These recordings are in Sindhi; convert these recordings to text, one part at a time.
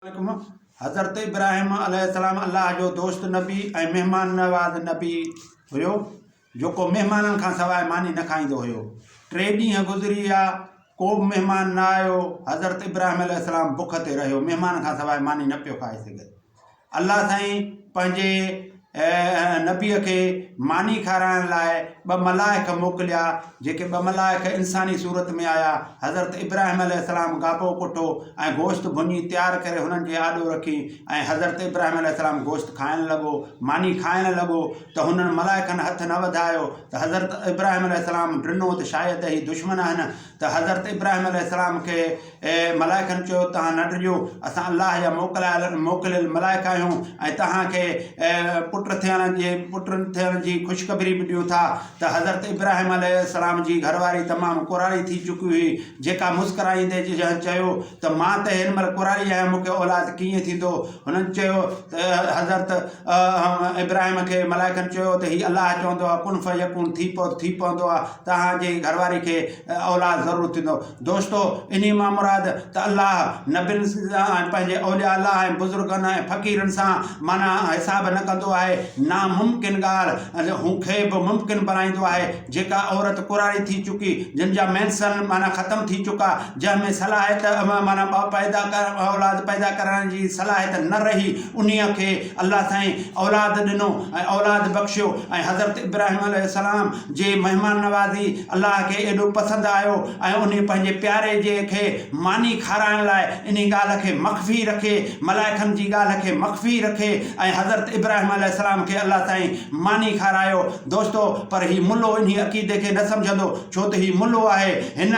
عليڪم، حضرت ابراهيم عليه السلام الله جو دوست نبي ۽ مهمان نواز نبي هيو، جيڪو مهمانن کان سواء ماني نه کائيندو هيو. ٽي ڏينهن گذري ويا، ڪو به مهمان نه آيو، حضرت ابراهيم عليه السلام بک تي رهيو، مهمانن کان سواء ماني نه پيو کائي سگهي. الله سائين پنهنجي. ۽ نبيء کي ماني کارائڻ لاء ٻه ملائڪ موڪليا، جيڪي ٻه ملائڪ انساني صورت ۾ آيا، حضرت ابراهيم عليه السلام گاپو ڪوٺو ۽ گوشت ڀڃي تيار ڪري هنن جي آڏو رکي ۽ حضرت ابراهيم عليه السلام گوشت کائڻ لڳو، ماني کائڻ لڳو ته هنن ملائڪن هٿ نه وڌايو ته حضرت ابراهيم عليه السلام ڊنو ته شايد هي دشمن آهن ته حضرت ابراهيم عليه السلام کي اي ملائڪن چيو، توهان نه ڊڄو، اسان الله جا موڪلايل، موڪليل، ملائڪ آهيون ۽ توهان کي پٽ ٿيڻ جي، پٽ ٿيڻ جي خوشخبري به ڏيون ٿا ته حضرت ابراهيم عليه السلام جي گهر واري تمام ڪوراڙي ٿي چڪي هئي، جيڪا مسڪرائيندي جنهن چيو ته مان ته هن مهل ڪوراڙي آهيان، مون کي اولاد ڪيئن ٿيندو؟ هنن چيو ته حضرت ابراهيم کي ملائڪن چيو ته هي الله چوندو آهي ڪن فيڪون ٿي پئو ته ٿي پوندو آهي، توهان جي گهر واري کي اولاد ضرور ٿيندو. دوستو! انهيء مان مراد ته الله نبين ۽ پنهنجي اولياء الله ۽ بزرگن ۽ فقيرن سان معنيٰ حساب نه ڪندو آهي. ناممڪن ڳالهه هو کي به ممڪن بڻائيندو آهي. جيڪا عورت ڪراري ٿي چڪي، جن جا مينسن معنيٰ ختم ٿي چڪا، جنهن ۾ صلاحيت معنيٰ پيدا اولاد پيدا ڪرڻ جي صلاحيت نه رهي، انهيء کي الله سائين اولاد ڏنو ۽ اولاد بخشيو ۽ حضرت ابراهيم عليه السلام جي مهمان نوازي الله کي ايڏو پسند آيو ۽ انهي پنهنجي پياري جي کي ماني کارائڻ لاء انهي ڳالهه کي مخفي رکي، ملائڪن جي ڳالهه کي مخفي رکي ۽ حضرت ابراهيم عليه السلام کي الله سائين ماني کارايو. دوستو پر هي ملو انهي عقيدي کي نه سمجهندو ڇو ته هي ملو آهي هن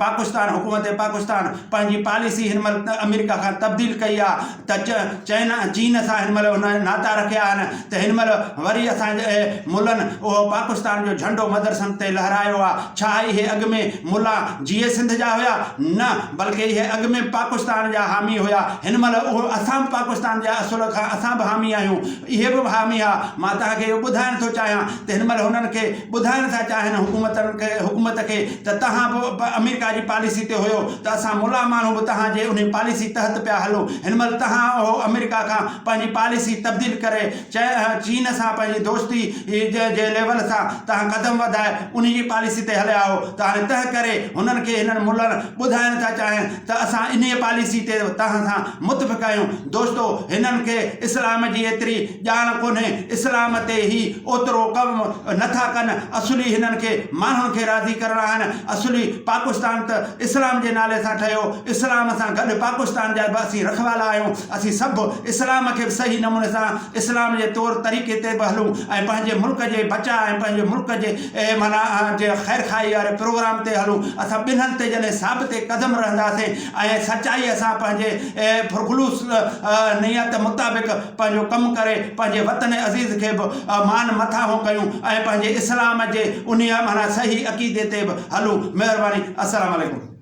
پاڪستان حڪومت پاڪستان پنهنجي پاليسي هن مهل امريڪا کان تبديل ڪئي آ. تج، چين ۽ چين سان هن مهل هن ناتا رکيا آهن ته هن مهل وري اسان جي ملن اهو پاڪستان جو جهنڊو مدرسن تي لهرايو آ، ڇا اهي اڳ ۾ ملا جيئي سنڌ جا هيا؟ نه، بلڪ اهي اڳ ۾ پاڪستان جا حامي هيا، هن مهل اهو اسان به پاڪستان جا اصل کان اسان به حامي آهيون، اهي به حامي ها، مان توهان کي اهو ٻڌائڻ ٿو چاهيان ته هن مهل هنن کي ٻڌائڻ ٿا چاهن حڪومت کي ته توهان به پ امريڪا جي پاليسي تي هيو ته اسان ملان ماڻهو به توهان جي انهي پاليسي تحت پيا هلون هن مهل توهان اهو امريڪا کان پنهنجي پاليسي تبديل ڪري چين چين سان پنهنجي دوستي جي جي ليول سان توهان قدم وڌائي انهي جي پاليسي تي هليا آهو ته هاڻي تنهن ڪري هنن کي هنن ملن ٻڌائڻ ٿا چاهين ته اسان انهيء پاليسيء تي توهان سان متفق آهيون. دوستو! هنن کي اسلام جي ايتري ڄاڻ ڪونهي. اسلام تي هي اوترو ڪم نه ٿا ڪن. اصلي هنن کي ماڻهن کي راضي ڪرڻا آهن. اصلي پاڪستان ته اسلام جي نالي سان ٺهيو. اسلام سان گڏ پاڪستان جا به اسين رکوالا آهيون. اسين سڀ اسلام کي به صحيح نموني سان اسلام جي طور طريقي تي به هلون ۽ پنهنجي ملڪ جي بچاء ۽ پنهنجي ملڪ جي اهي معنيٰ آهن جي خيرخواهي واري پروگرام تي هلون، اسان ٻنهن تي جڏهن ثابت قدم رهنداسين ۽ سچائيء سان پنهنجي پرخلوص نيت مطابق پنهنجو ڪم ڪري پنهنجي وطن عزيز کي به مان مٿاهون ڪيون ۽ پنهنجي اسلام جي انهيء معنيٰ صحيح عقيدي تي به هلون. مهرباني. السلام عليڪم.